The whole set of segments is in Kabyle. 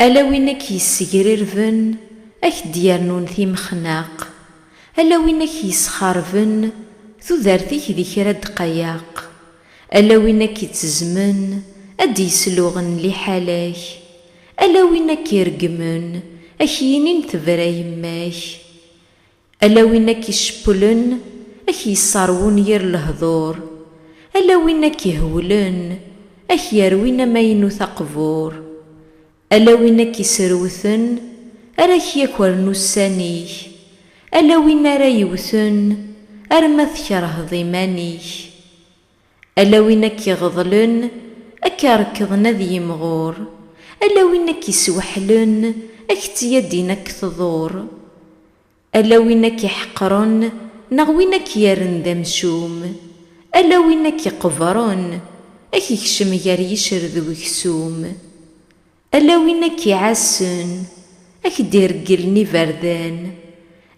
Ala win a k-yessegrirben, a k-d-yernun timexnaq, ala win a k-yesxarben, tudert-ik di kra ddqayeq, ala win a k-ittezzmen, a d-yesluɣen liḥala-k, ala win a k-ireggmen, a k-yinin tebra yemma-k. Ala win a k-icepplen, a k-yesserwun yir lehdur, ala win a k-ihewlen, a k-yerwin amaynut aqbur, ala win a k-iserwten, ara k-yakren ussan-ik, ala win ara yewten, arma tkerheḍ iman-ik. Ala win a k-iɣeḍlen, a k-irekḍen ad yimɣur, ala win a k-isweḥlen, a k-ttyaddin a k-tḍur. Ala win a k-iḥeqren neɣ win a k-yerren d amcum, ala win a k-iqebren, a k-ikcem gar yicred uksum. Ala win a k-iɛassen, a k-d-iregglen iberdan,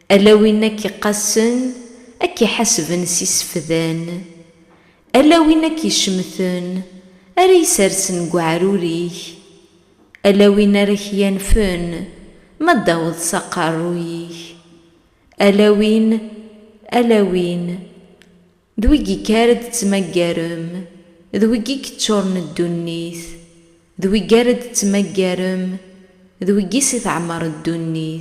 ala win a k-iqqassen, a k-iḥasben s isefdan, ala win a k-icemten, ara isersen deg uɛrur-ik, ala win ara k-yanfen ma d-taweḍ s aqerruy-ik, ala win, ala win. D wigi kara d-tettmaggarem, d wigi yeččuren ddunit, d wigi ara d-tettmaggarem, d wigi si teɛmer ddunit.